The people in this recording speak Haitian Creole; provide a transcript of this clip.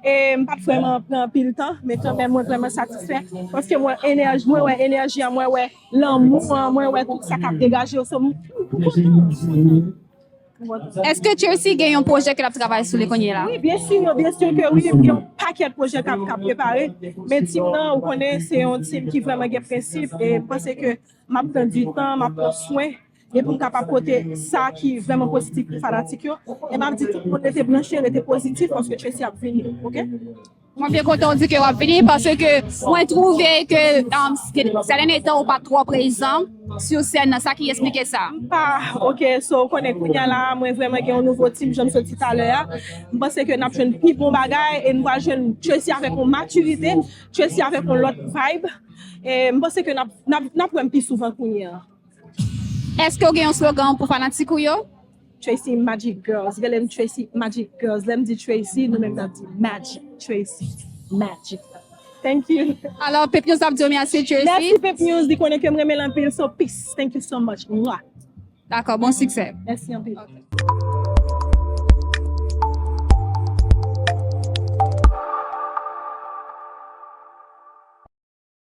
E m pa t vrèman pran anpil tan, men kanmèm mwen vrèman satisfè, paske mwen enèji, mwen wè enèji an, mwen wè lanmou an, mwen wè tout sa k ap degaje yo, so m kontan, m kontan. Eske Chelsea gen yon pwojè ke l ap travay sou li kounye la? Wi, byen si, byen si ke wi, gen yon pakèt pwojè k ap prepare, men team nan, ou konnen, se yon team ki vrèman gen prensip, e m panse ke m ap pran di tan, m ap pran swen. e pou m kapab pote sa ki vrèman pozitif pou fanatik yo e map di tout moun rete branche rete pozitif paske Tracy ap vini ok. Mwen byen kontan ou di ke wap vini paske mwen twouve ke sè dènye tan ou pa twò prezan sou sèn nan sa ki esplike sa? M pa ok so ou konnen kounya la mwen vrèman gen yon nouvo team janm sot di talè a m panse ke nap jwenn pi bon bagay e nou pral jwenn Tracy avèk yon matirite Tracy avèk yon lòt vibe e m panse ke nap wè m pi souvan kounya. Eske ou gen yon slogan pou fanatik ou yo? Tracy Magic Girls Rele m Tracy Magic Girls Lè m di Tracy, nou menm n ap di Magic Tracy Magic Thank you Alò Pepnews ap di w mèsi Tracy Mèsi Pepnews Li konnen ke m renmen l anpil So peace Thank you so much Mwah Dakò Bon siksè Mèsi anpil Ok.